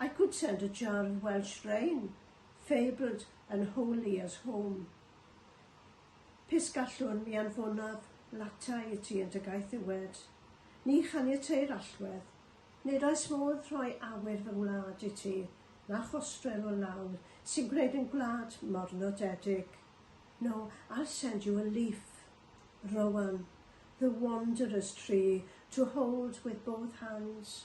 I could send a jar of Welsh rain, fabled and holy as home. Pys gallwn mi anfonaf latai i ti yn dy gaeth iwed. Ni chaniateir allwedd, nid oes modd rhoi awyr fy ngwlad i ti, na chostrell o lawr sy'n gwneud yn gwlad mor nodedig. No, I'll send you a leaf, Rowan, the wanderer's tree, to hold with both hands,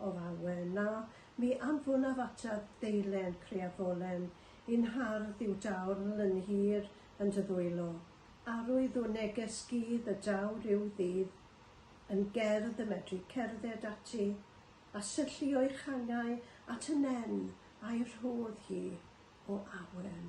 O lawer, na, mi anfonaf ataf ddeilen creafolen, Yn nhardd yw dawrl yn hir yn dy ddwylo, Arwydd o neges gudd y daw rhyw ddydd, Yn gerdd y medru cerdded ati, A syllu o'i changau at y nen a'i rhodd hi o awen.